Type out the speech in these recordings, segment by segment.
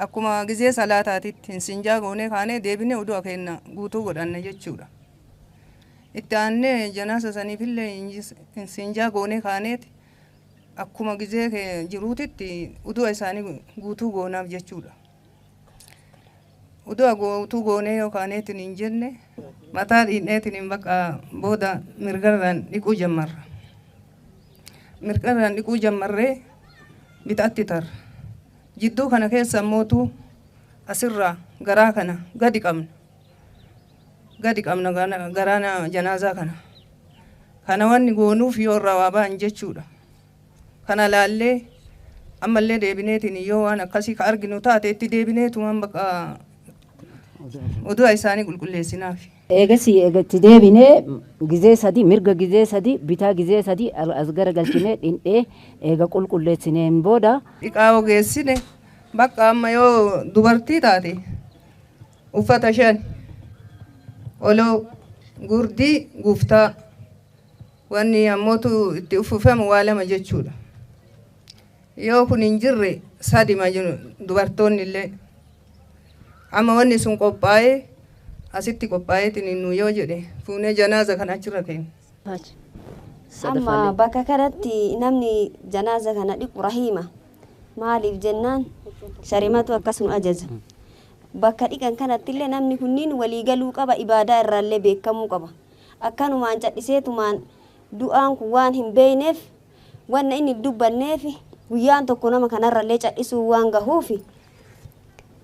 Akkuma gizee salaataatitti hin sinjaa goonee kaanee deebinee udu'a keenna guutuu godhanna jechuudha. Itti aannee janaasa saniifillee hin sinjaa goonee kaaneeti akkuma gizee kee jiruutitti udu'a isaanii guutuu goonaaf jechuudha. Udu'a guutuu goonee yoo kaaneetiin hin jenne mataa dhiidneetiin hin baqa booda mirgarraan dhiquu jammarra. Mirgarraan dhiquu jammarree bitatti tarra. Jidduu kana keessa immoo utuu as irraa garaa kana gadi qabna gadi qabna garaa na janaazaa kana kana wanni goonuuf yoo irraa waa ba'an jechuudha kana laallee ammallee deebineetiin yoo waan akkasii ka arginu taate itti deebineetumaan baqa oduu isaanii qulqulleessinaaf. Eegasii eega itti deebinee gizee sadii, mirga gizee sadii, bitaa gizee sadii as garagalchinee dhindhee eega qulqulleessineen booda. dhiqaa'oo geessine bakka amma yoo dubartii taate uffata shan, qoloo, gurdii, guftaa, wanni ammootu itti uffiffamu waa lama jechuudha. Yoo kun hin jirre sadima dubartoonnillee Amma wanni sun qophaa'ee asitti qophaa'eetiniin nuu yoo jedhe fuunee janaaza kana achirra keenya. Amma bakka kanatti namni janaaza kana dhiqu rahiima. Maaliif jennaan sharimatu akkas nu ajaja. Bakka dhiqan kanattillee namni kunniin walii galuu qaba ibaadaa irraallee beekamuu qaba. Akkanumaan cadhiseetumaan du'aan kun waan hin beeyneef Wanna inni hin dubbanneef guyyaan tokko nama kanarrallee cadhisuun waan gahuuf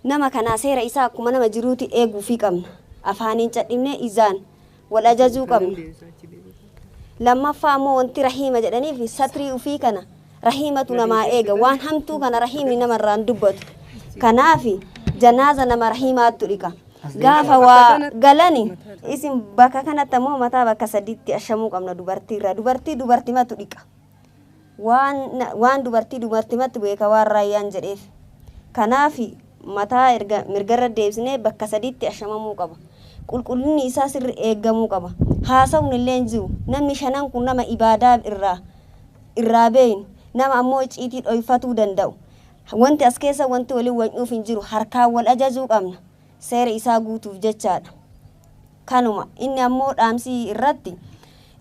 nama kanaa seera isaa akkuma nama jiruuti eeguufii qabna. Afaaniin cadhifnee ijaan wal ajajuu qabna. Lammaffaa immoo wanti rahiima jedhaniif satrii ufii kana rahiimatu namaa eega. Waan hamtuu kana rahiimni namarraa hin dubbatu. Kanaaf janaaza nama rahiimaattu dhiqa. Gaafa waa galani isin bakka kanatti ammoo mataa bakka sadiitti ashamuu qabna dubartiirraa. Dubartii dubartimatu dhiqa. Waan, waan dubartii dubartimatti beeka waan raayyaan jedheef. Kanaaf mataa erga mirgarra deebisnee bakka sadiitti ashamamuu qaba. Qulqullinni isaa sirri eegamuu qaba. Haasawuun illee hin jiru. Namni shanan kun nama ibaadaa irraa irraa beeynu nama ammoo icciitii dhoyfatuu danda'u. Wanti as keessa wanti waliin wacnuuf hin jiru. Harkaan wal ajajuu qabna. Seera isaa guutuuf jechaadha. Kanuma. Inni ammoo dhaamsi irratti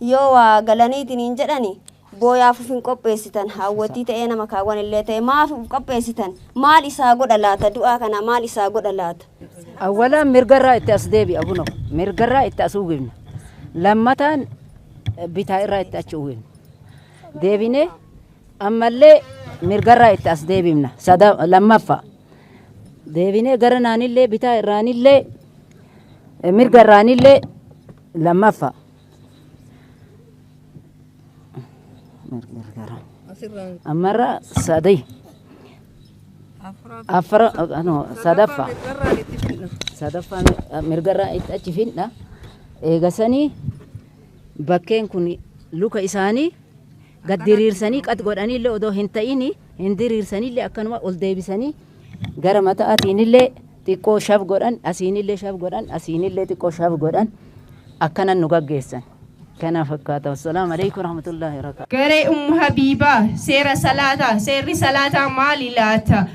yoo waa galanii itiniin jedhani booyaaf uf hin qopheessitan. Haawwattii ta'ee nama kaawwan illee ta'e maaf uf qopheessitan? Maal isaa godha laata? Du'aa kanaa maal isaa godha laata? Awwalaan mirgarraa itti as deebi'a kunoo. Mirgarraa itti as uwwifna. Lammataan bitaa irraa itti achi uwwifna. Deebinee Ammallee mirgarraa itti as deebifna. Sada lammaffa deebinee gara naanillee bitaa irraanillee eh, mirga irraanillee lammaffa. Mirgarraa. Asirraan Ammarra sadii afuraaf afra eh, no, sadaffa irraa itti fidna. sadaffaa mi- eh, mirgarraa itti achi fidna. Eegasanii bakkeen kun luka isaanii Gad diriirsanii qat godhaniillee odoo hin ta'ini hin diriirsaniillee akkanuma ol deebisanii gara mata'aatiinillee xiqqoo shaf godhan asiinillee shaf godhan asiinillee xiqqoo shaf godhan akkanan nu gaggeessan. Kana fakkaata. Assalaamu alaikum warahmatullaahi wabarakaatu. Garee Ummu Habiibaa, Seera Salaataa, Seerri Salaataa maali laata?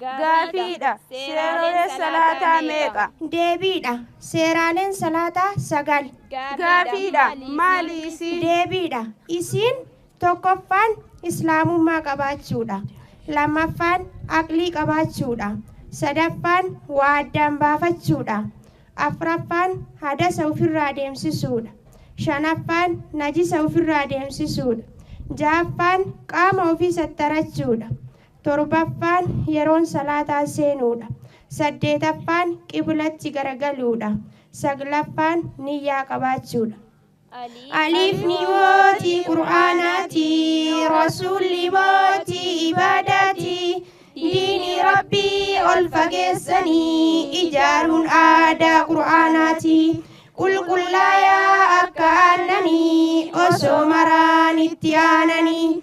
Gaafiidha. Seerooleen salaataa meeqa? Deebiidha. Seeraaleen salaataa sagal. Gaafiidha. Maali isiin? Deebiidha. Isiin tokkoffaan Islaamummaa qabaachuudha. Lammaffaan aqlii qabaachuudha. Sadaffaan waa addaan baafachuudha. Afraffaan hadasa ufirraa deemsisuudha. Shanaffaan najisa ufirraa deemsisuudha. Jahaffaan qaama ofii sattarachuudha. Torbaffaan yeroon salaataa seenuudha. Saddeetaffaan qiblatti garagaluudha. Saglaffaan niyyaa qabaachuudha. Alifni mootii Qur'aanaati, Rasuulli mootii ibaadaati. Diini Rabbii ol fageessanii ijaaruun aadaa Qur'aanaati. Qulqullaayaa akka aannanii osoo maraan itti aananii.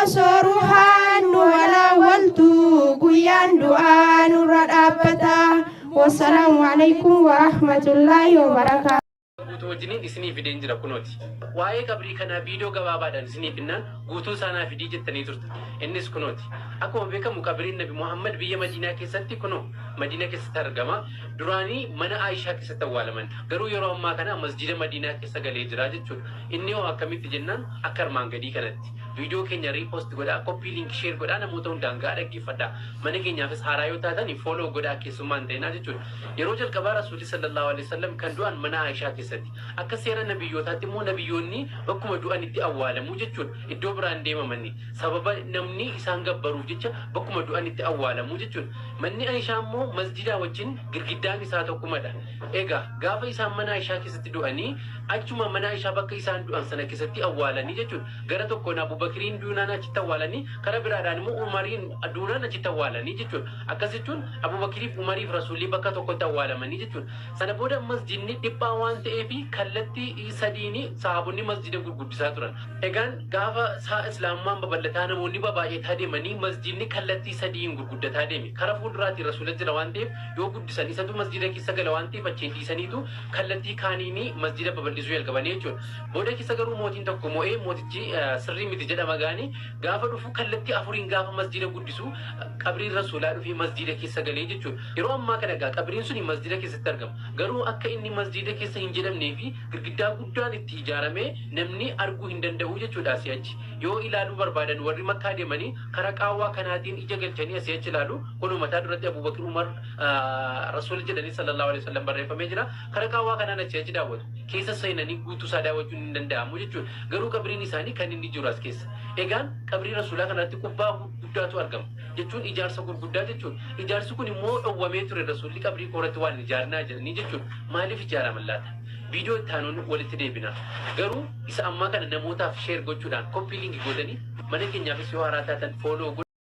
Osoo ruhaan nu walaawaltu guyyaan du'aa nurra dhaabbata. Wassalaamu alaikum warahmatullaahi wabarakaatu. guutuu wajjiniin isinii fideen jira kunooti. Waa'ee qabrii kanaa viidiyoo gabaabaadhaan isiniif finnaan guutuu isaanaa fidii jettanii turte. Innis kunooti. Akkuma beekamu qabriin Nabi Muhammad biyya Madiinaa keessatti kunoo Madiinaa keessatti argama. Duraanii mana Aayishaa keessatti awwaalaman. Garuu yeroo ammaa kana masjiida Madiinaa keessa galee jira jechuudha. Inni hoo akkamitti jennaan akka armaan gadii kanatti. Video keenya repost godhaa, copy link share godhaa namoota hundaan ga'aa dhaggeeffadhaa. Mana keenyaafis haaraa yoo taatani follow godhaa keessummaa hin ta'inaa jechuudha. Yeroo jalqabaa Rasuulli sallallahu alaihi wasallam kan du'an mana Aishaa keessatti. Akka seera nabiyyootaatti immoo nabiyyoonni bakkuma du'anitti awwaalamu jechuudha. Iddoo biraa hin deemamanni. Sababa namni isaan gabbaruuf jecha bakkuma du'anitti awwaalamu jechuudha. Manni Aishaa immoo masjidaa wajjin girgiddaan isaa tokkumadha. Egaa, gaafa isaan mana Aishaa keessatti du'anii, achuma mana Aishaa bakka isaan du'an sana keessatti awwaalanii jechuun, gara tokkoon Abu Bakriin duunaan achitti awwaalanii, kara biraadhaan immoo Umariin duunaan achitti awwaalanii jechuun. Akkas jechuun Abu Bakriif, Umariif Rasuulli bakka tokkotti awwaalamanii jechuun. Sana booda masjidni dhiphaa waan ta'eef kallattii sadiini sahaabonni masjida gurguddisaa turan. Egaan, gaafa saa Islaamummaan babal'ataa namoonni babaay'ataa deemanii masjidni kallattii sadiin gurguddataa deeme. Kara fuulduraatiin Rasuula jira waan ta'eef, yoo guddisan isatu masjiida keessa gala waan ta'eef achiin dhiisaniitu kallattii kaaniini masjiida babal'isuu jalqabanii jechuudha. Booda keessa garuu mootiin tokko mo'ee mootichi eh, sirrii miti jedhama gaani gaafa dhufu kallattii afuriin gaafa masjiida guddisu eh, qabriin rasuulaa dhufee masjiida keessa galee jechuudha. Yeroo ammaa kana egaa qabriin suni masjiida keessatti argama. Garuu akka inni masjiida keessa hin jedhamnee fi girgiddaa guddaan itti ijaaramee namni arguu hin danda'u jechuudha asii achi. Yoo ilaaluu barbaadan warri makkaa deemanii karaa qaawwaa kanaatiin ija galchanii asii achi ilaalu Kunoo mataa duratti Abuu Bakr Umar Rasuula jedhanii sallallahu alaihi wasallam barreeffamee jira. Kara qaawwaa kanaan achi achi daawwatu. Keessa seenanii guutuu isaa daawwachuun hin danda'amu jechuudha. Garuu qabriin isaanii kan inni jiru as keessa. Egaan qabrii Rasuulaa kanarratti kubbaa guddaatu argama. Jechuun ijaarsa gurguddaa jechuudha. Ijaarsi kun immoo dhowwamee ture Rasuulli qabrii koorratti waan hin ijaarnaa jedhanii jechuudha. Maaliif ijaaraman laata? Viidiyoo itti aanuun walitti deebina. Garuu isa ammaa kana namootaaf sheer gochuudhaan koppii liinki gootanii mana keenyaafis yoo haaraa taatan fooloo